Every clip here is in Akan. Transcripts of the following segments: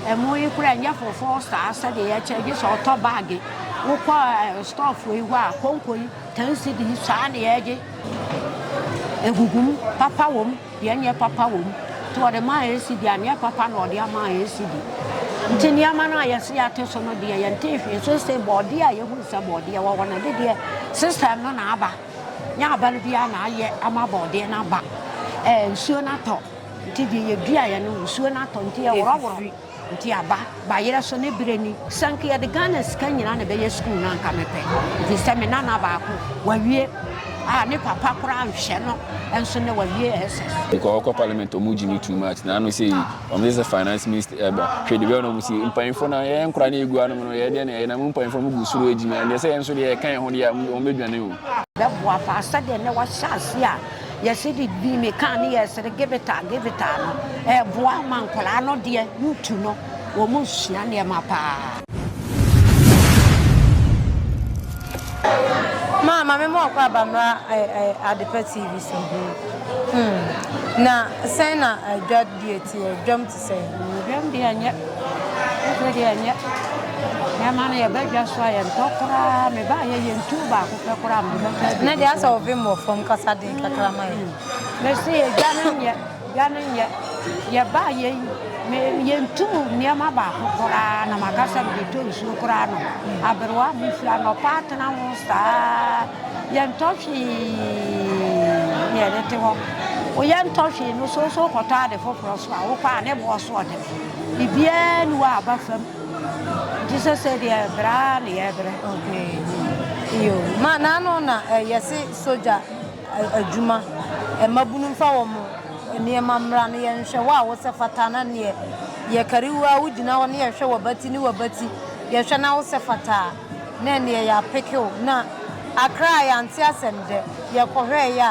Ɛmo yi koraa ɛnyɛ fofoɔ saa sɛdeɛ yɛkyɛ gye sɛ ɔtɔ baage wokɔ store foɔ yi hɔ a konko yi ten cedi saa na yɛgye egugum papa wɔm deɛ nyɛ papa wɔm nti ɔde maa yɛ cedi a nyɛ papa na ɔde ama yɛ cedi nti nneɛma no a yɛsi ate so no deɛ yɛn te hwee so sɛ bɔɔdeɛ a yɛhu sɛ bɔɔdeɛ wɔ hɔ no de deɛ system no na aba nyɛ aba no biara na ayɛ ama bɔɔdeɛ no aba ɛɛ nsuo no atɔ. Nti deɛ yɛduaeɛ no nsuo no atɔ nti yɛworɔworɔ nti aba bayerɛ so ne berɛ ni sɛ nka yɛde Ghana sika nyinaa na ɛbɛyɛ sukuu no anka mepɛ nti sɛ me nana baako wawie a ne papa koraa nhwɛ no nso ne wawie SS Because ɔkɔ parliament ɔmo gyi no too much na ano sɛ yi ɔmo sɛ sɛ finance minister ɛbɔ eh, hwɛ deɛ bɛyɛ na ɔmo si mpanyinfoɔ na yɛn nkora na egu anom no yɛ deɛ na yɛ na mo mpanyinfoɔ mo gu soro adwuma deɛ sɛ yɛn nso deɛ yɛka yɛn ho deɛ ɔmo bɛdwane o. bɛboa fa sɛdeɛ na wahyɛ ase a Yɛse de bi me car ne yɛsere gibita gibita no ɛboa ma nkwadaa no deɛ ntu no wɔn sua nneɛma paa. Ma ma me ma ɔkɔ aba mmra Adepa TV so. Hmm. Na sɛn na adwa deɛ teɛ dwam Sɛ nnuhwam deɛ ɛnyɛ, koko deɛ ɛnyɛ. Nneɛma no yɛba dwa so a yɛntɔ koraa. Mebaeɛ yɛ ntuo baako pɛ koraa mede bɛtɔ aduane so. Ɛnɛ deɛ asɛ ɔvem wɔ fam kasa den kakra ma yɛn. Mese yɛ dwa no nyɛ, dwa no nyɛ. Yɛbaeɛ yi me yɛntu nneɛma baako koraa na maka sɛ mede tɔ nsuo koraa nom. Aberewa a mofiri anɔpa atena ho saa. Yɛntɔ hwee na yɛde te hɔ. Wo yɛntɔ hwee no so so kɔtɔ ade foforɔ so a wokɔ a ne boɔ so ɔde biribiara ni wɔ aba fam nti sɛ sɛ deɛ ɛbrɛ a na yɛbrɛ. Okay. Yo. Ma n'ano na eh, yɛse sogya eh, adwuma eh, mmabunu mfa wɔn nneɛma mmra na yɛnhwɛ wo a wosɛ fata na neɛ yɛkari wo a wogyina hɔ na yɛhwɛ w'abati ne w'abati yɛhwɛ na wosɛ fata a Na ɛneɛ yɛapeke wo na akra a yɛante asɛm dɛ yɛkɔhwɛɛ yɛ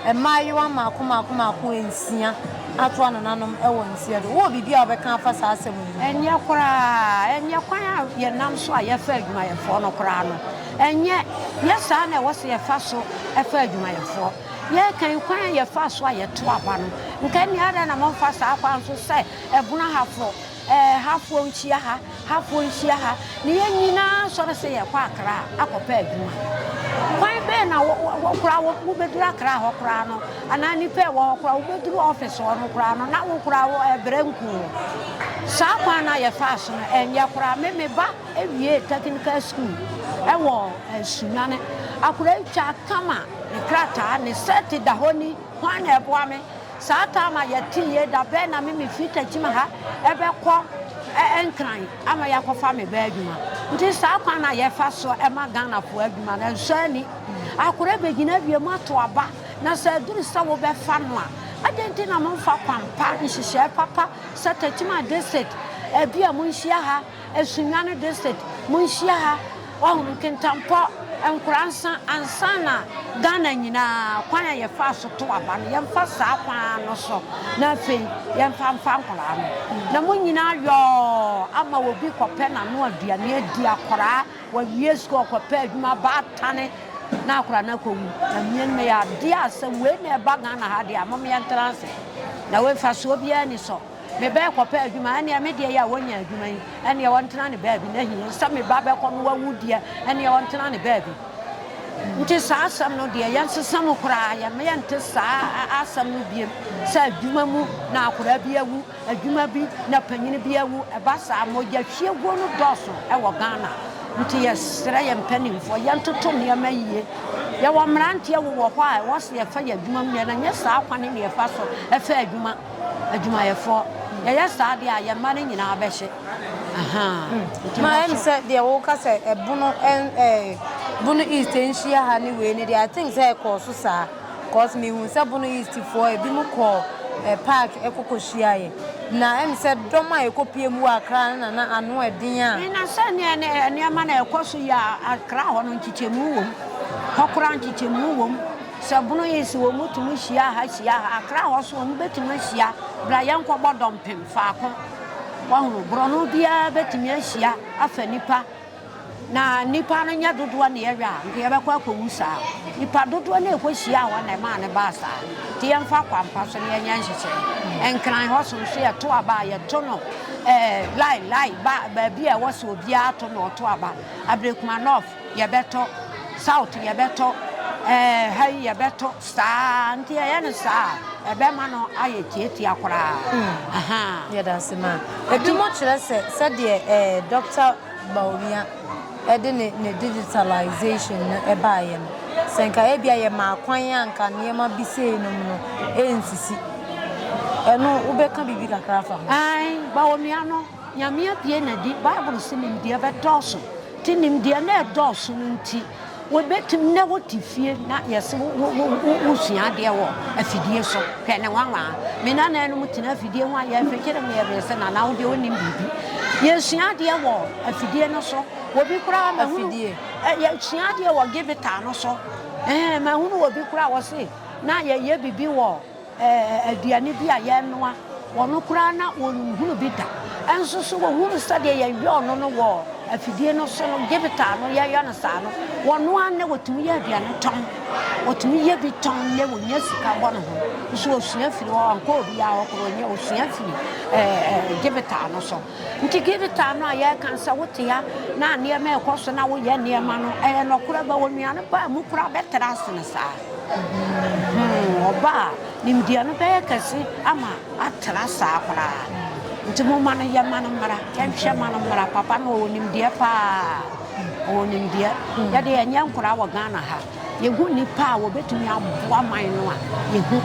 a mmaayewa mmaako mmaako mmaako nsia atoa nananom wɔ nseɛ do. Wowɔ biribi a wobɛka afa saa asɛm yi ho? Ɛnyɛ koraa. Ɛnyɛ kwan a yɛnam so a yɛfa adwumayɛfoɔ no koraa no. Ɛnyɛ. Nyɛ saa na ɛwɔ sɛ yɛfa so fa adwumayɛfoɔ. Yɛrekan kwan a yɛfaa so a yɛto aba no. Nka nni adɛn na momfa saa kwan so sɛ ɛbono hafoɔ. Ɛɛ, hafoɔ nhyia ha, hafoɔ nhyia ha, na yɛn nyinaa sɔre sɛ yɛrekɔ Akra akɔpɛ adwuma. Kwan bɛn na wo, wo koraa wo, wobɛduru Akra hɔ koraa no, anaa nnipa a ɛwɔ hɔ koraa, wobɛduru ɔfis hɔ no koraa no, na wo koraa wo, ɛbrɛ nku wo. Saa kwan no a yɛfaa so no, ɛnyɛ koraa. Me, me ba wiee tɛkinikal sukuu wɔ Nsunyane. Akwadaa yi twaa kama, ne krataa, ne sɛɛte da hɔ ni. Hwan na ɛboa me? Saa time a yɛte yie da bɛn na me me firi Tekyim ha bɛkɔ Nkran ama yɛakɔfa me ba adwuma nti saa kwan na yɛfa so ma Ghanafoɔ adwuma no nsɔ ani. Akora bɛgyina awie mu ato aba na sɛ aduru sɛ wobɛfa no a adɛn nti na momfa kwan pa, nhyehyɛɛ papa sɛ Tekyim District, ebi a monhyia ha. Asundwa no district, monhyia ha, wahu, Nkintampɔ, Nkoransa, ansa na Ghana nyinaa, kwan a yɛfaa so to aba no, yɛmfa saa kwan ara no so, na afei yɛmfa mfa nkwadaa no. Na mo nyinaa yɔɔ ama obi kɔpɛ n'ano aduane adi, akwadaa, wawie sukuu, ɔkɔpɛ adwuma, baatane, na akwadaa no akɔwu. Na mmea no yɛ adeɛ a sɛ wei na ɛba Ghana ha deɛ a, mom yɛntena ase. Na wei mfasoɔ biara ni so. Me ba ɛkɔpɛ adwuma ɛneɛ me deɛ yɛ a ɔnya adwuma yi ɛneɛ ɔntena ne baabi na hii sɛ me ba bɛkɔ no wawu deɛ ɛneɛ ɔntena ne baabi nti saa asɛm no deɛ yɛn sesa mu koraa yɛn meyɛ nte saa asɛm no biem sɛ adwuma mu na akora bi awu adwuma bi na panyini bi awu ɛba saa mogya hwiaguo no dɔɔso ɛwɔ Ghana nti yɛsrɛ yɛn mpanimfoɔ yɛn toto nneɛma yie yɛwɔ mmeranteɛ wowɔ hɔ a ɛwɔ sɛ yɛfa yɛ adwuma mu yɛn na nyɛ saa kwan ne yɛfa so ɛfa adwuma adwumayɛfoɔ. Yɛyɛ saa deɛ a, yɛn mma no nyinaa bɛhye. Ma ɛm sɛ deɛ wo ka sɛ ɛbono ɛn ɛɛ bono east nhyia ha ne wei ne deɛ I think sɛ ɛkɔɔ so saa cause me hu sɛ bono east foɔ ebi mo kɔɔ ɛɛ park ɛkɔ kɔ hyia yɛ na ɛm sɛ dɔm a ɛkɔ pie mu wɔ akra no na na ano ɛden a. Me na sɛ neɛ ne ɛɛ nneɛma na ɛkɔ so yi a akra hɔ no nkyekyɛmu wɔ mu hɔ koraa nkyekyɛmu wɔ mu. Sɛ bono yi so wɔn tumi hyia ha hyia ha, akra hɔ so wɔn bɛtumi ahyia, bra yɛn kɔ bɔ dɔmpem faako, wɔhunu, borɔno biara bɛtumi ahyia afa nipa, na nipa no nyɛ dodoɔ na yɛwɛ a, nka yɛbɛkɔ akɔwu saa, nipa dodoɔ na ɛkɔ hyia hɔ na ɛmaa no baa saa, nti yɛn fa kwampa so na yɛn yɛn nhyehyɛ, nkran hɔ so nso yɛto aba a yɛto no ɛɛ lai lai ba baabi a ɛwɔ sɛ obiara to na ɔto aba, abirikuma nɔf. yɛbɛtɔ, south yɛbɛtɔ, ɛɛ ha yi yɛbɛtɔ saa nti ɛyɛ no saa a ɛbɛma no ayɛ tiatia koraa. Hmm. Yɛda ase ma. Ebi mo kyerɛ sɛ sɛdeɛ ɛɛ Dr. Bawumia ɛde ne ne digitalization no ɛbaayɛ no sɛ nka ebi a yɛ maa kwan a nka nneɛma bi sei nom no ɛnsisi. Ɛno wobɛka biribi kakra afa ho? Ɛn Bawumia no nyame apue n'adi Bible si nimdeɛ bɛdɔɔso Te nimdeɛ no ɛdɔɔso no nti wobɛtumi na wote fie na yɛse wosua adeɛ wɔ afidie so hwɛ ne nwanwa me nana no mu tena afidie ho a yɛfekyere me yɛbere sɛ nana wodeɛ wonim biribi yɛsua adeɛ wɔ afidie no so wɔbi koraa mahunu yɛsua adeɛ wɔ givita no so mahunu wɔbi koraa wɔ se na yɛyɛ biribi wɔ aduane bi a yɛnoa, wɔn koraa na wɔnhunu bi da. Nso so wɔhunu sɛdeɛ yɛyɛ ɔno no wɔ afidie no so no, gyebita no yɛyɛ no saa no, wɔnoa nnɛ wɔtumi yɛ aduane tɔn, wɔtumi yɛ bi tɔn nnɛ wɔnya sika bɔ ne ho. Nso ɔsua firi hɔ, ɔnkɔ obiara hɔ koro, ɔnyɛ ɔsua firi gyebita no so. Nti gyebita no a yɛreka sɛ wote ha na nneɛma ɛkɔ so na woyɛ nneɛma no, ɛyɛ nɔkorɛ ba onuane paa mu koraa bɛtra ase no saa. Huu ɔba a nimdeɛ no bɛyɛ kɛse ama atra saa koraa. Nti momma no yɛ, ma no mmra, yɛnhwɛ, ma no mmra. Papa no ɔwɔ nimdeɛ paa, ɔwɔ nimdeɛ. Yɛde yɛnyɛ nkoraa wɔ Ghana ha. Yɛhu nnipa a wɔbɛtumi aboa man no a, yɛhu.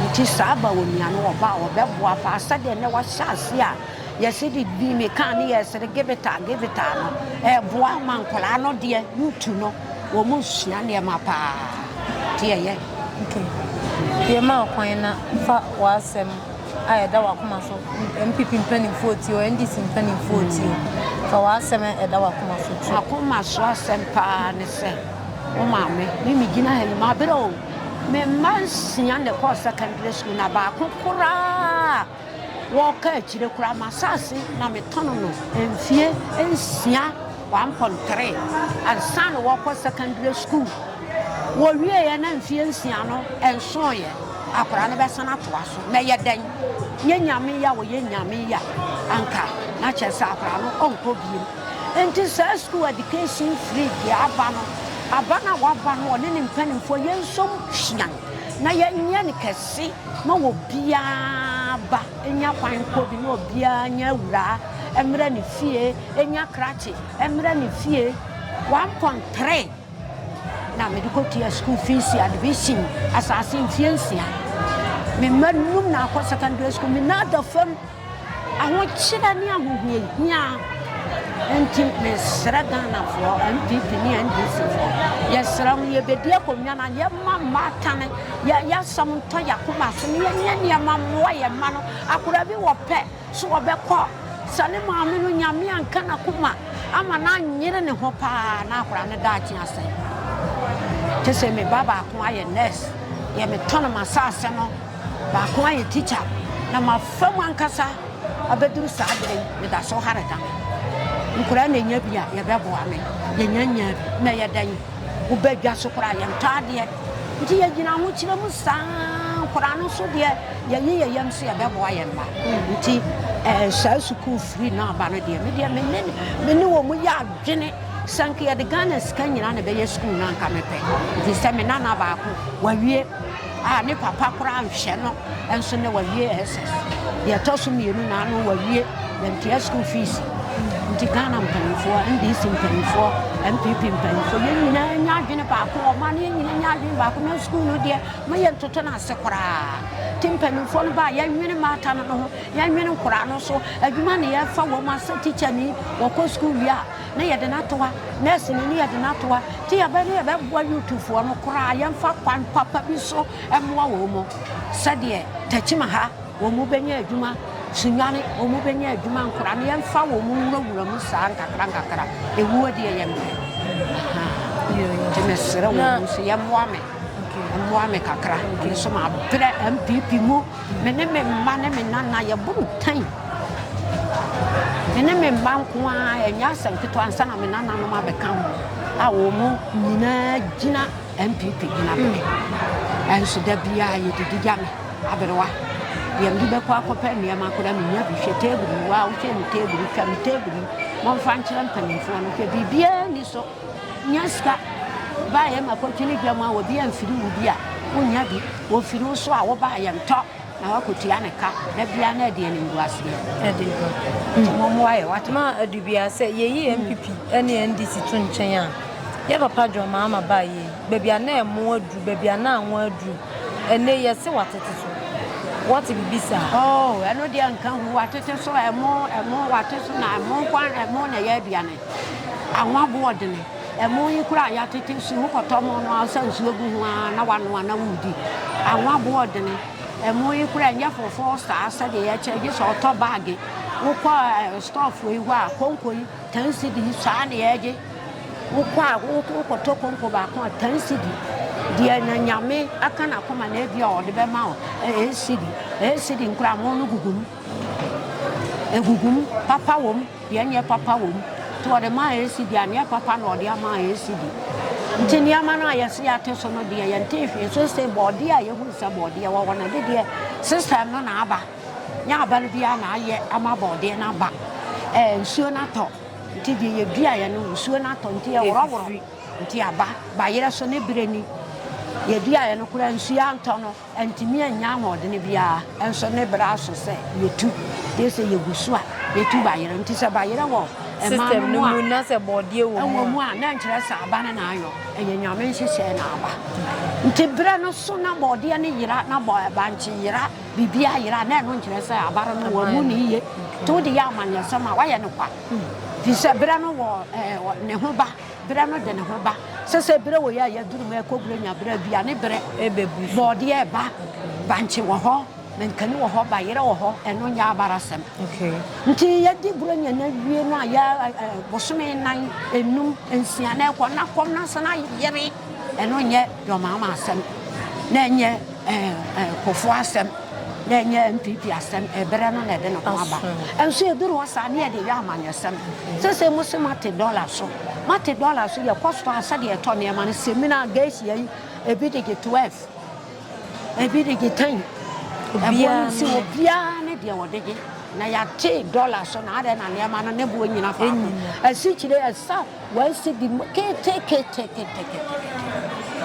Nti saa ba onua no, ɔba a ɔbɛboa paa sɛdeɛ nnɛ wahyɛ ase a yɛse de bi mekaa ne yɛsere gebetaa gebetaa no, ɛboa ma nkoraa no deɛ, yutu no. Wɔsua nneɛma paa. Nti ɛyɛ. Okay. Pie ma kwan na fa w'asɛm a ɛda w'akoma so, NPP mpanimfoɔ tie o, NDC mpanimfoɔ tie o, fa w'asɛm a ɛda w'akoma so to. M'akoma so asɛm paa ne sɛ, wo maame, me megyina ha yi, mabrɛ o, me mma nsia na ɛkɔɔ secondary school na baako koraa Wɔka akyire koraa m'asase na metɔno no mfie nsia, one pon three, ansa na wɔkɔ secondary school. Wɔwieɛ na mfie nsia no nsoeɛ, akwadaa no bɛsan atoa so. Mɛyɛ dɛn? Nyɛ Nyame ya wɔyɛ Nyame ya anka na kyerɛ sɛ akwadaa no ɔnkɔ biom. Nti saa school education free deɛ aba no, aba no a waba no ɔne ne mpanimfoɔ yɛnsom hwean na yɛnyɛ no kɛse. ma obiara ba nya kwan kɔ bi, na obiara nyɛ awuraa mmra ne fie, nya krakye mmra ne fie. One point three na mede kɔtua school fees admission asase mfie nsia. Me mma num na akɔ secondary school, me nan da fam. Ahokyerɛ ne ahohiahia nti mesrɛ Ghanafoɔ, NPP ne NDC foɔ, yɛsrɛ mo yɛbɛdi akonnwa no a yɛma mma atane, yɛasɛm ntɔ yɛakoma so ne yɛnyɛ nneɛma mmoa yɛn mma no. Akora bi wɔ pɛ so wɔbɛkɔ sɛ ne maame no nyame anka n'akoma ama no anyere ne ho paa na akora no daakye asɛe paa. Te sɛ me ba baako ayɛ nurse, yɛ metɔn m'asase no Baako ayɛ tikya na mafa mu ankasa abɛduru saa berɛ yi, meda so hare da me. Nkwadaa na ɛnya bi a, yɛbɛboa me. Yɛnya nyaa bi na ɛyɛ dɛn? Woba dwa so koraa yɛntɔ adeɛ. Nti yɛgyina ahokyerɛ mu saa, nkwadaa no nso deɛ yɛyi yɛn yam sɛ yɛbɛboa yɛn mma. Nti saa sukuu firi no aba no deɛ, me deɛ me ne wɔn yɛ adwene sɛ nka yɛde Ghana sika nyinaa na ɛbɛyɛ sukuu no a, nka mepɛ. Ɛfiri sɛ me nana baako, wawie. a ne papa koraa nhwɛ no nso na wawie SS. Deɛ ɛtɔ so mmienu na ano wawie yɛntua school fees. Nti Ghana mpanyinfoɔ, NDC mpanyinfoɔ, NPP mpanyinfoɔ, yɛn nyinaa nya adwene baako, ɔman no yɛn nyinaa nya adwene baako na school no deɛ ma yɛn ntoto no ase koraa. Ti mpanyinfoɔ no baa yɛnwene mmaata no no ho, yɛnwene nkoraa no so, adwuma ne yɛfa wɔn asɛ teacher ni, wɔkɔ school wie a ne yɛde no atoa nurse no ne yɛde no atoa nti yɛbɛ ne yɛbɛboa youthfoɔ no koraa yɛmfa kwan papa bi so mmoa wɔn mu sɛdeɛ takyima ha wɔn mu bɛnya adwuma sunwane wɔn mu bɛnya adwuma nkora no yɛmfa wɔn mu nwurawura mu saa nkakra nkakra ɛwuo deɛ yɛ mmerɛ nti mesrɛ wɔn mu so yɛmmoa me mmoa me kakra ɛno so mabrɛ mpp mu Me ne me mma ne me nana yɛbɔ ntɛn. Me ne me mma nko ara ɛnyɛ asɛm ketewa ansa na me nananom abɛka ho a wɔn nyinaa gyina npp gyina bɛyɛ ɛnso da biara yɛdidi gya me aberewa deɛ mede bɛkɔ akɔpɛ nneɛma koraa menya bi hwɛ table yi wa wohwɛ ne table hwɛ me table yi momfa nkyerɛ mpanimfoɔ no hwɛ biribiara ni so Nya sika baayɛ ma kɔtwene dwa mu a obi amfiri wo bi a wonya bi, ofiri wo so a wobaayɛ ntɔ na wakɔtua ne ka na bia na ɛdeɛ ne nguaseɛ ɛde ba nti mommoa yɛ wate. Ma adu bia sɛ yɛyi NPP ne NDC to nkyɛn a yɛ papa John Mahama baa yei baabi a na ɛmo aduru baabi a na anwa aduru ɛnɛ yi ɛse watete so wate bibi saa. Oh ɛno deɛ nka hu watete so ɛmo ɛmo wate so na ɛmo nkoa ɛmo na ɛyɛ aduane. Anwa bo ɔdene. Ɛmo yi koraa a yɛatete nsu yi, wokɔtɔ mo no ara wosa nsuo gu ho ara na wanoa na woredi. Anwa bo ɔdene. Ɛmo yi koraa ɛnyɛ fofoo saa sɛdeɛ yɛkyɛ gye sɛ ɔtɔ baage. Wokɔ eh, stɔɔfoɔ yi hɔ a konko yi ten cedi yi saa na yɛgye. Wokɔ a wokɔtɔ konko baako a ten cedi. Deɛ na nyame aka n'akoma na ebi a ɔde bɛma wo ɛyɛ cedi. Ɛyɛ cedi nkoraa mo no gugu mu. Ɛhuhum, papa wɔ mu, deɛ ɛnyɛ papa wɔ mu. Nti wɔde maa Yesu deɛ anyɛ papa na wɔde ama Yesu bi. Nti nneɛma no a yɛse yɛate so no deɛ yɛntee hwee so se bɔɔdeɛ a yɛhunu sɛ bɔɔdeɛ wɔ hɔ no ɛde deɛ system no na aba. Nyɛ aba no biara na ayɛ ama bɔɔdeɛ no aba. Ɛɛ nsuo no atɔ nti deɛ yɛduaeɛ no nsuo no atɔ nti ɛworɔworɔ nti aba. Bayerɛ so ne berɛ ni. Yɛduaeɛ no koraa nsuo antɔ no. Antumi annya ahoɔdene biara nso ne berɛ aso sɛ yɛtu. Gye sɛ yɛgu so a yɛtu bayerɛ. Nti sɛ bayerɛ wɔ ɛman no mu a, ɛwɔ mu a, na ɛnkyerɛ sɛ aba no na ayɔ. Ɛyɛ Nyame nhyehyɛɛ na aba. Nti berɛ no so na bɔɔdeɛ no yera, na bankye yera, biribiara yera, na ɛno nkyerɛ sɛ aba no wɔammu no yie. Nti wode yɛ amanyɛsɛm a, woayɛ no kwa. Firi sɛ berɛ no wɔ ne ho ba. Berɛ no de ne ho ba. Sɛsɛ berɛ wɔ yi a yɛaduru mu ɛkɔ berɛ nya berɛ aduane berɛ. Bɔɔdeɛ ɛba, bankye wɔ hɔ, mankani wɔ hɔ, bayerɛ wɔ hɔ, ɛno nyɛ abarasɛm. Nti yɛdi berɛ nya no awie no a yɛ bosome nan, enum, nsia na ɛkɔ na kɔm no asan ayere, ɛno nyɛ dɔmaama asɛm na ɛnyɛ. Ɛɛ Kufuor asɛm na ɛnyɛ NPP asɛm, ɛbrɛ no na ɛde ne ho aba. Nso ɛduru hɔ saa ne yɛde yɛ amanyɔsɛm. Sɛsɛ mo se mate dɔla so, mate dɔla so, yɛkɔ store a sɛdeɛ yɛtɔ nneɛma no, semina, geisha yi, ebi de gye 12, ebi de gye 10. Ɛboɔ no si hɔ, biara ne deɛ ɔde gye. Na yɛate dɔla so na adɛn na nneɛma no ne boɔ nnyina faako. Asikyire ɛsa. Wɔasi bi mu ketekete.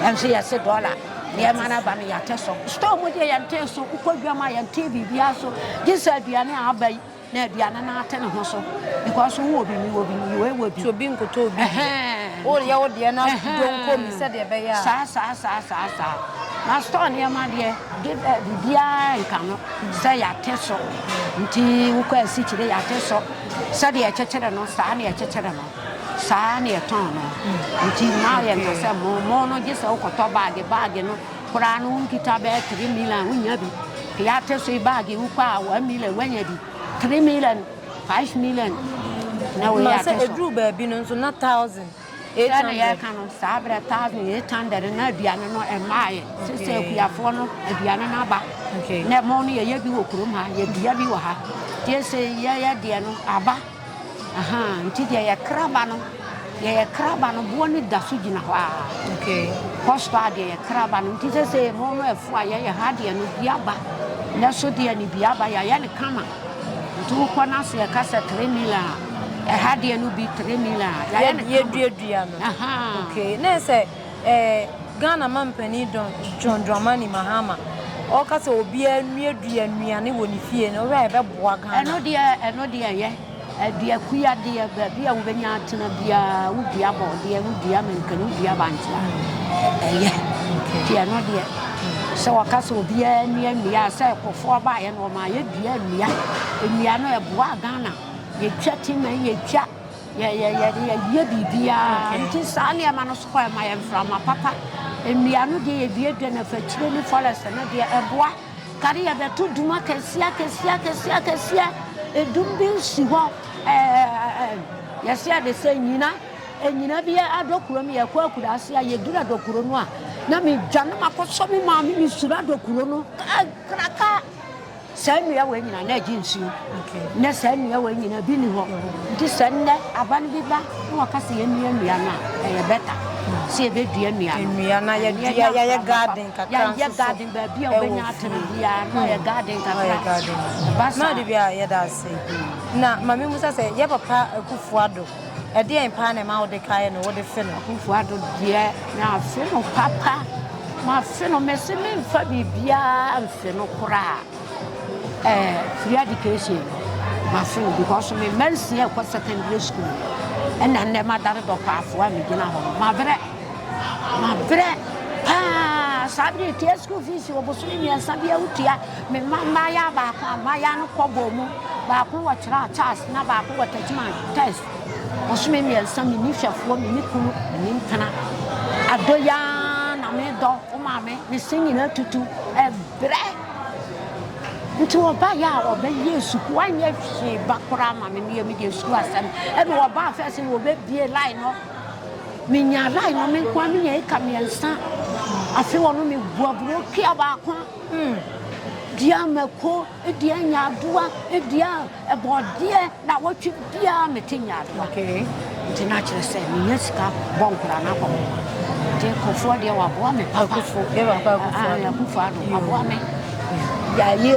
Yɛn nso yɛasi dɔla. Nneɛma no aba no yɛate so. Store mu deɛ yɛntee so. Wokɔ dwam a yɛntee biribiara so. Gye sɛ aduane a aba yi na aduane no ate ne ho so. Because wowɔ bi, mewɔ bi, wei wɔ bi. Nti obi nkotɔ obi deɛ. Woyɛ wo deɛ na donko bi sɛdeɛ ɛbɛyɛ a. Saa saa saa saa saa. Na store nneɛma deɛ biribiara nka ho sɛ yɛate so. Nti wokɔ asikyire yɛate so. Sɛdeɛ yɛkyekyere no, saa na yɛkyekyere no, saa ara na yɛtɔn no. Nti mma yɛnka sɛ mo, mo no gye sɛ wokɔtɔ baage, baage no koraa no wonkita bɛyɛ three million a, wonnya bi. Yɛate so yi, baage wokɔ a one million woanya bi, three million, five million, na wei yɛate so. Ma sɛ ɛduru baabi no nso na thousand. Sɛ na yɛreka no saa berɛ a thousand eight hundred no na aduane no ɛmmaeɛ sɛ sɛ akuafoɔ no aduane no aba na ɛmɔn no yɛyɛ bi wɔ kurom ha yɛdua bi wɔ ha nti ɛsɛ yɛyɛ deɛ no aba aha nti deɛ yɛkra ba no deɛ yɛkra ba no boɔ no da so gyina hɔ a kɔstɔ a deɛ yɛkra ba no nti sɛ sɛ ɛmɔn no ɛfo a yɛyɛ ha deɛ no bi aba na so deɛ no bi aba yɛayɛ no kama Nti wokɔ no ase ɛka sɛ three mil a ɛha deɛ no bi three mil a yɛayɛ no yɛduadua no okay ne sɛ eh, Ghana mampanin Don John Dramani Mahama ɔka sɛ obiara nnuadua nnuane wɔ ne fie no ɔhwɛ a ɛbɛboa Ghana ɛno deɛ ɛno deɛ ɛyɛ Dua kua deɛ, baabi a wobɛnya atena biara, wodua bɔɔdeɛ, wodua mankani, wodua bankye a, ɛyɛ. Nti ɛno deɛ, sɛ wɔka sɛ obiara nnua nnua a, sɛ ɛkɔfoɔ baeɛ no, wɔma yɛdua nnua. Nnua no, ɛboaa Ghana. Yɛtwa timɛ, yɛtwa yɛyɛ biribiara nti saa nneɛma no so kɔ ɛma yɛ mframa papa nnua no deɛ yɛduadua no afakyire ne forest no deɛ ɛboa Kane yɛbɛto dum akɛseɛ akɛseɛ akɛseɛ akɛseɛ edum bi nsi hɔ ɛɛ yɛsi ade sɛ nyina nyina bi adɔ kuro mu yɛkɔ akura ase a yɛdura dɔ kuro no a na mi dwa no ma kɔsɔ mi maame mi sura dɔ kuro no kraka saa nnua wɔ nyina na ɛgye nsuo na saa nnua wɔ nyina bi ni hɔ nti sɛ nnɛ aba no bi ba na wɔka sɛ yɛnnua nnua no a ɛyɛ bɛta sɛ yɛbɛdua nnua no yɛyɛ garden kakra nso so Baabi a wobɛnya atena biara, na ɔyɛ garden kakra. Ɛba saa. Na ade bi a yɛda ase. Na ma me musa sɛ, yɛ papa Akufo Addo, ɛdeɛn paa na ɛma wode kaeɛ no, wode fe no? Akufo Addo deɛ, mafe no papa. Mafe no, mese memfa biribiara mfe no koraa. Ɛɛ, free education no, mafe no because me mma nsia ɛkɔ secondary school. Ɛna nnɛ madane dɔkɔafoɔ a megyina hɔ no, mabrɛ. Mabrɛ paa saa bere yi tua school fees wɔ bosome mmiɛnsa bi awo tua me mma mmaayaa baako a mmaayaa no kɔ bɔɔ mu baako wɔ tra charles na baako wɔ tajima test bosome mmiɛnsa me ni hwɛfoɔ me ni kunu me ni mpena adɔ yaa na me dɔ wo maame me se nyina tutu ɛbrɛ nti ɔba yɛ a ɔbɛ yɛ suku anyɛ hwee ba koraa ma me ne yɛ me deɛ suku asɛm ɛna ɔba afɛs na ɔbɛ bie line no Minya line no me nko ara, minya acre mmiɛnsa. Afei ɔno meboa buro kea baako dua mako, dua nyaadoa, dua ɛbɔɔdeɛ na wɔtwe biara mete nyaadoa. Okay. Nti na kyerɛ sɛ menya sika bɔ nkora no akɔ. Nti kofoɔ deɛ waboa me papa. Akufo, yɛ papa akufo ado. Akufo ado, waboa me. Yɛayɛ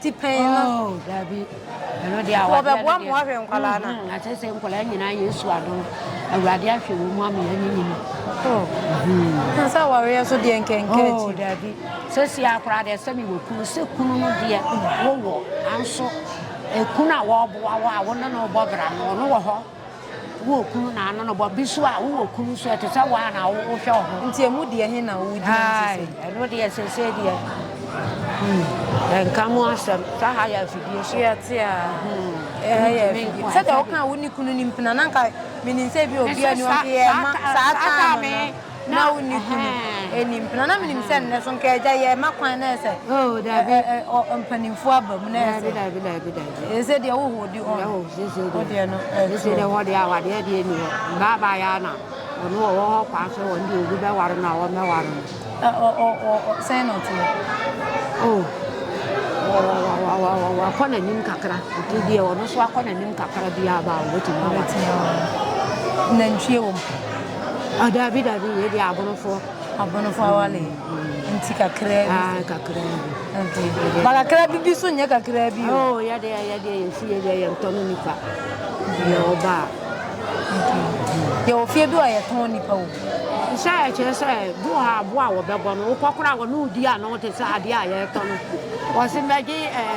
ti pɛn no. Oh, dabi. Ɛno deɛ awadeɛ no deɛ. Wɔbɛboa mmoa hwɛ nkwadaa no. Mm-hmm. Akyɛ sɛ nkwadaa nyinaa yɛ su ado. Awurade ahwɛ wɔn mu ama yɛn nyinyi no. Oh. Mm-hmm. Nsa awareɛ so deɛ nkɛnkɛ oh, akyi. Oh, dabi. Sɛ si akora deɛ sɛ mi wɔ kunu sɛ kunu no deɛ wowɔ anso ekunu a wɔboa wɔ a wɔne no bɔ bra no ɔno wɔ hɔ. Wo wɔ kunu na ano no bɔ bi so a, wo wɔ kunu so ɛte sɛ waa na wo hwɛ wo ho. Nti ɛmu deɛ he na wo gyina mu sese? Aai, ɛno deɛ sese deɛ, hmm, yɛnka mu asɛm, sɛ ha yɛ afidie so. Yɛte a, ɛha yɛ afidie. Sɛdeɛ wo kaa wo ne kunu ni mpena, na nka menim sɛ bi obi ani ɔde yɛ ma saa time no. na wo ne kunu ɛnim pena na menim sɛ nnɛ so nka agya yɛ ma kwan na ɛsɛ mpanimfoɔ aba mu na ɛsɛ ɛsɛ deɛ wohoo de ɔdeɛ no ɛsɛ deɛ wɔde awadeɛ deɛ ni hɔ baabaa yɛ ana ɔno wɔ wɔ hɔ kwan sɛ wɔn deɛ obi bɛware no a wɔmmɛware no sɛn na ɔteɛ wakɔ n'anim kakra nti deɛ ɔno so akɔ n'anim kakra biaa baa wɔbɛtumi aware nantwie wɔ mu Ah, dabi dabi, wei deɛ abonofoɔ. Abonofoɔ awale nti kakra bi. Ah, kakra bi. Okay. Ba kakra bi bi so nyɛ kakra bi o. Oh, yɛde yɛde yɛn si yɛde yɛn tɔ no nipa. Yɛ ɔba. Yɛ wɔ fie bi a yɛtɔn nipa o. Sɛ ɛkyerɛ sɛ bi wɔ ha aboa a wɔbɛbɔ no wokɔ kora wɔ ne wodi a na wote sɛ adeɛ a yɛtɔ no wɔse mɛgye ɛɛ.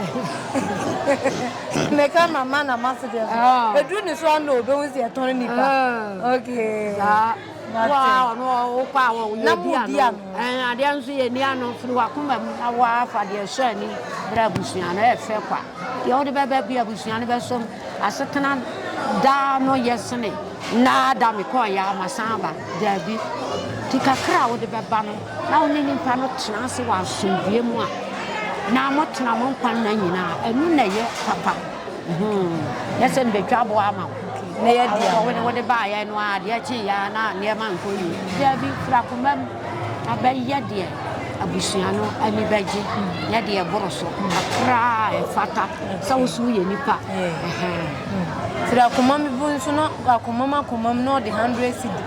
Meka ma ma na ma se deɛ so. Ah. Edu ne so ano o bɛhu sɛ ɛtɔn nipa. Ah. Okay. Saa. Waa ɔno ɔkɔ a wɔ yɛ di ano. Ɛn adeɛ nso yɛ ni ano firi wakoma mu na waa fa deɛ sɔ ani bere abusua no ɛfɛ e kwa. Deɛ wɔde bɛbɛ bi abusua no bɛsɔ mu asetena daa no yɛ sene naa da mekɔɔ yɛ ama san ba daabi. Ti kakra a wɔde bɛba no. na wo ne nipa no tena ase wɔ asomdwoeɛ mu a, na motena mo nkwa nna nyinaa. Ɛno na ɛyɛ papa. Nyɛ sɛ mebɛtwa aboa ama wo. Awɔ wo ne wode baeɛ no ara, deɛ kyeeɛ ara na nneɛma nkɔ yie. Daabi, firi akoma mu na bɛyɛ deɛ abusua no ani bɛgye ne deɛ ɛboro so kakra a ɛfata sɛ wo so woyɛ nipa. Firi akoma mu nso na akomam akomam na ɔde 100 cedi.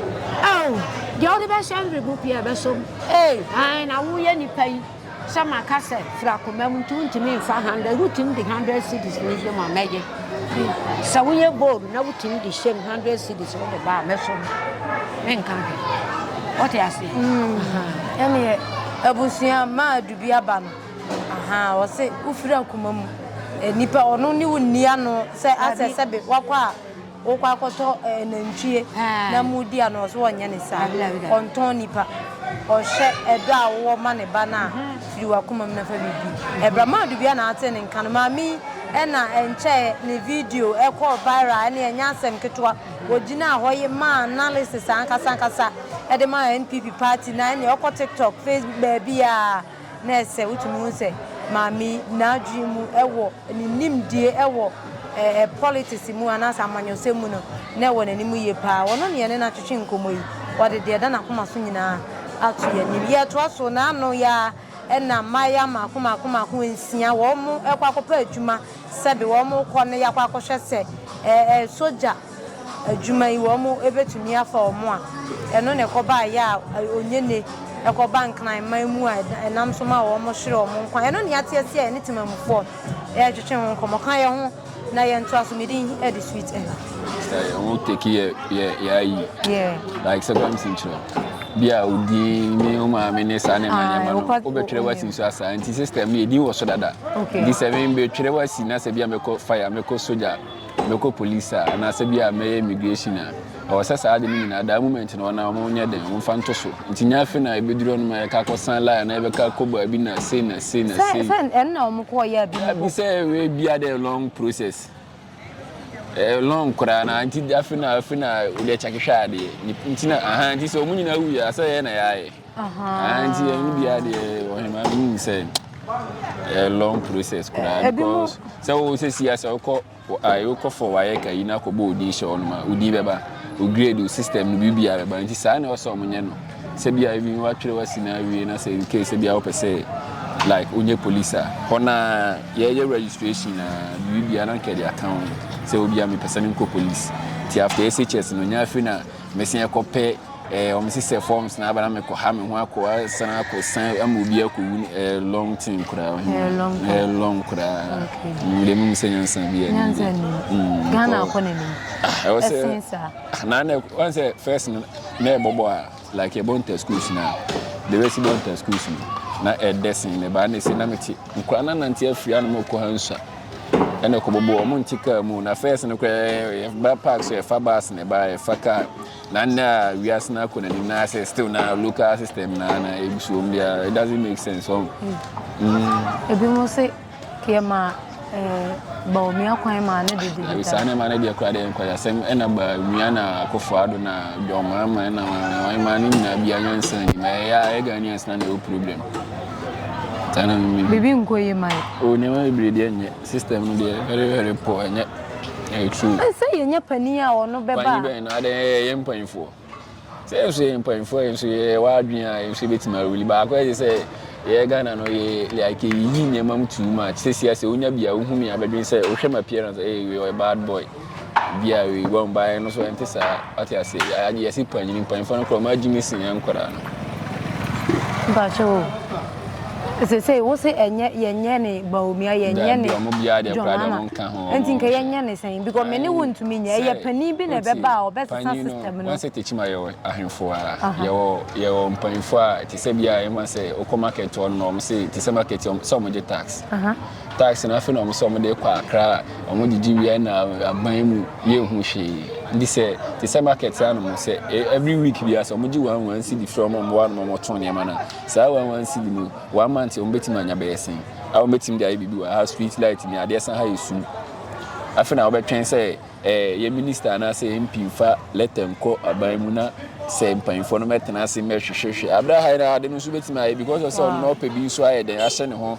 Deɛ wode bɛhyɛ mberebo pii a ɛbɛsɔ mu. Ee, ae na woyɛ nipa yi sɛ maka sɛ fira koma mu nti wontumi nfa hundred wotumi de hundred cedis no hyɛ mu a mɛgye sɛ woyɛ bold na wotumi de hyɛ mu hundred cedis wode ba a mɛsɔ mu menka hwɛ wote aseɛ mm. ɛneɛ abusua ma adubi aba no aha ɔse wofira koma mu eh, nipa ɔno ne wo nni ano sɛ asɛ sɛbe wakɔ a Wokɔ akɔtɔ eh, nantwie na mu di a na ɔso ɔnyɛ ne saa. Ɔntɔn nipa. Ɔhyɛ ɛdɔ a wowɔ ma ne ba no a firi w'akoma mu na fa biribi. Ɛbra maa Dubia na ate ne nka no. Maame yi ɛna ɛnkyɛɛ ne video ɛkɔɔ viral ɛne ɛnyɛ asɛm ketewa. Ɔgyinaa hɔ ye maa analysis ankasa ankasa ɛde maa NPP party na ɛne ɔkɔ TikTok, Facebook baabiaa na ɛsɛ wotumi hu sɛ maame yi n'adwene mu ɛwɔ ne nimdie wɔ eh politics mu anaasɛ amanyɔsɛm mu no, na ɛwɔ n'anim yie pa ara. Ɔno ne yɛne no atwetwe nkɔmmɔ yi. Ɔde deɛ ɛda n'akoma so nyinaa ato yɛn anim. Yɛretoa so na ano yi ara na mmayewa mmaako mmaako mmaako nsia wɔrekɔ akɔpɛ adwuma sɛbe wɔrekɔ no yɛakɔ akɔhwɛ sɛ eh eh sogya. Adwuma yi wɔn bɛtumi afa wɔn a ɛno na ɛkɔbaa yɛ a ɔnyɛ ne ɛkɔba nkran man mu a ɛnam so ma wɔn hyere wɔn nkwa ɛno na yɛatease a yɛne temamufoɔ retwetwe ho nkɔmmɔ ka yɛ ho na yɛn ntoa so medin ɛde sweet ɛna. Ɛyɛ ho teki yɛ yɛ yɛ ayi. Yeah. Like sɛ bɛm si nkyerɛ bi a odin ne o maame ne saa ne ma ah, nneɛma no wobɛtwerɛ wasi nso asaa nti system no yɛdin wɔ so dada nti sɛ me bɛtwerɛ wasi na sɛ bi a mɛkɔ fire mɛkɔ soja mɛkɔ police a anaasɛ bi a mɛyɛ immigration a ɛwɔ sɛ saa ade no nyinaa daa moment no ɔna wɔn nyɛ den wɔn fa nto so nti nyɛ afe na ebeduru ɔno ma yɛka kɔ san line na yɛbɛka kɔ baabi na sei na sei na sei. sɛ sɛ ɛno na wɔn kɔ yɛ abi. abi sɛ ɛwɛ bi a dɛ long process ɛɛ long koraa na nti afe na afe na wɔde akyɛ kehwɛ adeɛ nti na ahan nti sɛ wɔn nyinaa wu yɛ asɛ yɛ na yɛayɛ. Ahaa. Nti ɛno biara deɛ ɔhema menim sɛ ɛyɛ long process koraa eh, because sɛ wo sɛ si asɛ wokɔ wokɔ fɔ wayɛ ka yi na akɔbɔ odin hyɛ ɔnom a odin bɛba o grade o system no biribiara bɛba nti saa na ɔsɛ ɔmo nyɛ no sɛ bia ebi watwerɛ wasi na awie na sɛ nke sɛ bia wopɛ sɛ like onye police a hɔ na yɛyɛ registration na biribiara na nkɛde aka ho sɛ obi a mepɛ sɛ menkɔ police nti after SHS no nya afei na Mesi ɛkɔ pɛ eh, ɔmo si sɛ forms na aba na mekɔ ha me ho akɔ asan akɔ san ama obi akɔ wu eh, long thing koraa ɔhene eh, long, eh, long koraa okay. mm, deɛ mum sɛ nyansa bi ani nyansa ni mm, Ghana akɔ n'anim ah, ɛwɔ sɛ ɛsen saa ah, na na wɔn sɛ first no na ɛbɔbɔ a like ɛbɔ nta schools na de bɛsi bɔ nta schools no na ɛdɛ sen na ɛbaa na ɛsi na mete Nkwadaa no anante afiri anom rekɔ ha nsua, ɛna ɛkɔbobɔ wɔn nte kaa mu. Na fɛs no koraa yɛba park so yɛfa bus na ɛba yɛfa kaa. Na nnɛ a wiase no akɔ n'anim na sɛ still na local system na na ɛgu so wɔn biara it doesn't make sense wɔn. Mm. Ebi mo se yɛma eh, baomia kwan maa ne dede deda. Saa nneɛma no deɛ koraa deɛ nkwayasɛm ɛna baomia na akɔfo ado na dwɔnmaama ɛna wɔn maa no nyinaa bi anyansa nim ɛyɛ a ɛyɛ Ghanaians na na ɛwɔ problem. Bibi nkɔ yie ma yɛ. O nneɛma bebree deɛ nyɛ system no deɛ very very poor nyɛ ɛyɛ true. Ɛsɛ yɛ nyɛ panin a ɔno bɛba. Panyin bɛn na adɛn yɛ yɛ mpanyinfoɔ sɛ yɛ nso yɛ mpanyinfoɔ yɛ nso yɛ wɔ adwene a yɛ nso yɛbɛtumi awuli baako ɛyɛ sɛ yɛ Ghana no yɛ like yi nneɛma mu too much sɛ si asɛ wonya bi a wohu mi abɛdwene sɛ wohwɛ ma appearance ɛyɛ yɛ bad boy. Bia wei wɔn baeɛ no so ɛnte saa ɔte ase agye yɛsi panyin mpanyinfoɔ no korɔ ɔmo agye ne sin yɛn nkwadaa no. Mpakyɛ o sese wo se ɛnyɛ yɛnyɛ ne baomia yɛnyɛ ne jɔnana nti nka yɛnyɛ ne sɛn because me ne wo ntumi nyɛ ɛyɛ panin bi na ɛbɛba a ɔbɛsesa system no. wɔsɛ tekyima yɛwɔ ahemfo a yɛwɔ yɛwɔ mpanyinfoɔ a te sɛ bia ɛma sɛ okɔ market hɔ nom ɔmo se te sɛ market sɛ ɔmo gye tax. Taxi no afei na wɔn sɛ wɔn de rekɔ akra a wɔn gyegye wia na aban mu yɛ hu hwee nti sɛ te sɛ market anom sɛ e, every week bi asɛ wɔn gye wɔn wɔn cedi frɛ wɔn mmoa nom wɔn tɔn nneɛma na saa wɔn wɔn cedi no wɔn amante wɔn betumi anya bɛyɛ sɛn a wɔn betumi de ayɛ biribi wɔ ha street light ni adeɛ san ha yɛ sum afei na wɔbɛtwɛn sɛ ɛɛ eh, yɛ minister anaasɛ yɛ mpi nfa lɛtɛ nkɔ aban mu na sɛ mpanyinfoɔ no mɛtena ase mɛhwehwɛhwɛ abira ha yɛ na ade no nso betumi ayɛ because ɔsɛ ɔno na ɔpɛ bi nso ayɛ dɛn ahyɛ ne ho.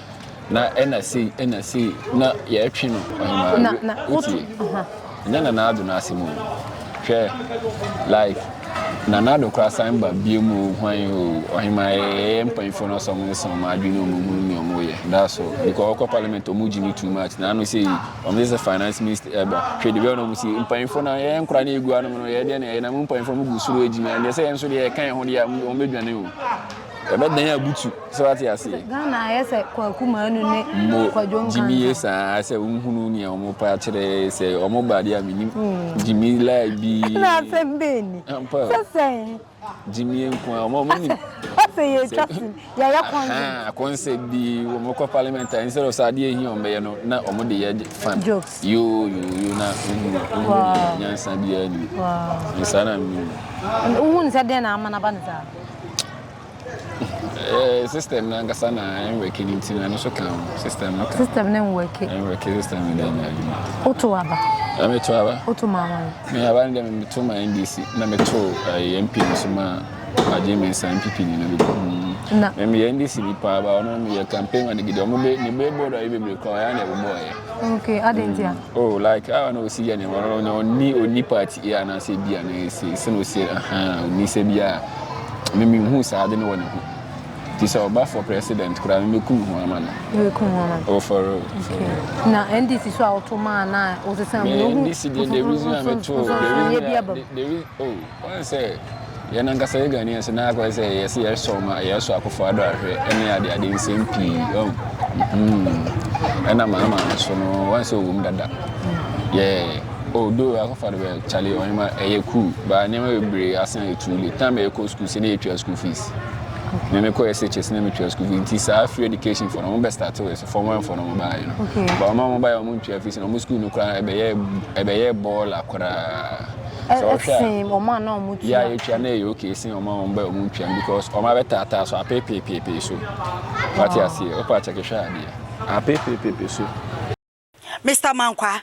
na ɛna sei ɛna sei na yɛtwe no ɔhemaa wotie ɛnyɛ nana ado no asɛm o hwɛ like nana ado kora san ba bie mu hwan o ɔhemaa yɛyɛ mpanyinfoɔ no sɔm ne sɔm adwene ɔmo mu ne ɔmo yɛ that's all because ɔkɔ parliament ɔmo gyi no too much na ano sɛ yi ɔmo sɛ sɛ finance minister ɛba hwɛ debi ɔno ɔmo si mpanyinfoɔ no yɛyɛ nkora ne egu anom no yɛyɛ deɛ na yɛyɛ na mo mpanyinfoɔ mo gu soro adwuma ɛdeɛ sɛ yɛn nso deɛ yɛka yɛn ho deɛ ɔmo bɛdwane o ɛbɛ dan abutu sɛ wate aseɛ ghana ayɛ sɛ kwaku maanu ne kwadwo nkanka gyimi yɛ saa sɛ wohunu nea ɔmo pa akyerɛ sɛ ɔmo ba adeɛ a menim gyimi hmm. lai bi na asɛm bɛɛ ni sɛ sɛn gyimi nko a ɔmo nim sɛ yɛtwa sim yɛyɛ kɔnse kɔnse bi wɔn kɔ parliament a nsɛrɛ sɛ adeɛ ehi wɔn bɛyɛ no na wɔn de yɛ fan jokes yoo yoo yoo na ohun ohun nyansa biara ni nsa na mi. ohun sɛ den na ama na ba ne saa. Eh, system no ankasa na ɛnwɛke no nti no ɛno so ka ho system no ka system no nwɛke nwɛke system no dɛ nyɛ adwuma woto aba na meto aba woto ma wan me aba no dɛ meto ma ndc na meto eh, mp no so ma agye me nsa mpp ni no dodo mm. na meyɛ ndc bi paa ba ɔno meyɛ campaign ma no gidi ɔmo be ne bɛbɔ do ayɛ bebree koraa ɔyɛ na ɛbobɔɔyɛ okay adɛn ntia mm. oh like ah na osi yɛ ne wɔn na ɔni ɔni party yɛ anaasɛ bi a na ɛsɛ sɛ na osi ahan ɔni sɛ bi a mimi hu saa ade no wɔ ne ho ti sɛ ɔba for president koraa mimi kum ho ama no mimi kum ho ama no oh for real for real na ndc so a ɔto maa na ɔsesa mu ndc deɛ the reason a mɛ to the reason a the reason oh. Woahu sɛ yɛn ankasa yɛ Ghanaian so na akɔyɛ sɛ yɛsɛ yɛsɔ ma yɛsɔ akofo ado ahwɛ ɛne ade ade nsɛm pii ɔn mm-hmm. ɛna maa maa no so no wɔn sɛ ɔwɔ mu dada yɛ odo oh, akɔfa do bɛ kyale ɔnyɛma ɛyɛ cool baa nneɛma bebree asan yɛ too late time ɛkɔ school sɛ ne yɛtua school fees na me kɔ SHS na me tua school fees nti saa free education for no wɔn bɛ start wɔ so form one for no wɔn baa yɛ no ba wɔn a wɔn baa yɛ wɔn ntua fees na wɔn school no koraa ɛbɛyɛ ɛbɛyɛ bɔɔla koraa. sɛ ɔhwɛ a wɔn a na wɔn tua yɛ a yɛtua na ɛyɛ okay sen wɔn a wɔn bɛ wɔn tua because wɔn abɛtaataa so apeepeepeepee so wate aseɛ ɔpa akyɛ kehwɛ adeɛ apeepeepeepee so. Mister Mankwaa,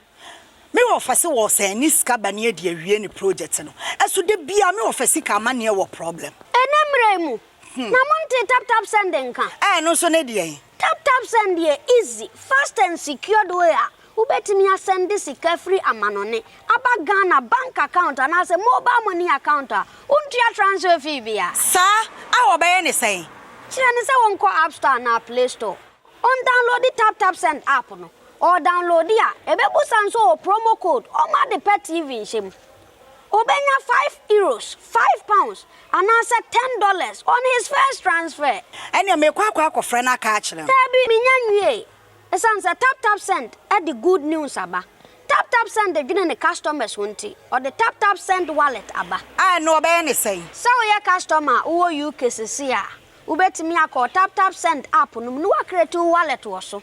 me wɔ fɛ se wɔ sɛn ne sika bɛne adi awie ne project no ɛso da biara me wɔ fɛ sika amanneɛ wɔ problem. Ɛnɛ mmerɛ yi mu, Na montee tap tap send nka? Ɛɛ ɛno nso ne deɛn? Tap tap send yɛ easy, fast and secured way a wobɛtumi asɛnde sika firi amanɔne aba Ghana bank account anaasɛ mobile money account a wontua transfer fee biara. Saa a wɔbɛyɛ ne sɛn? Kyerɛ no sɛ wɔnkɔ app store anaa play store, ɔndownloadi tap tap send app no, ɔredownloadi a ɛbɛbusa nso ɔwɔ promo code, ɔmma ade pa TV nhyɛ mu. Obenya five euros, five pounds, anaasɛ ten dollars on his first transfer. Ɛnneɛ mekɔ akɔ akɔfrɛ no aka akyerɛ no. Daabi, mennya nwiei. Esiane sɛ TapTapSend de good news aba, TapTapSend dwene ne customers ho nti, ɔde TapTapSend Wallet aba. A, ɛnneɛ wɔbɛyɛ no sɛn? Sɛ woyɛ customer a wowɔ UK seesei a, wobɛtumi akɔ TapTapSend app no mu na woacreate wo wallet wɔ so.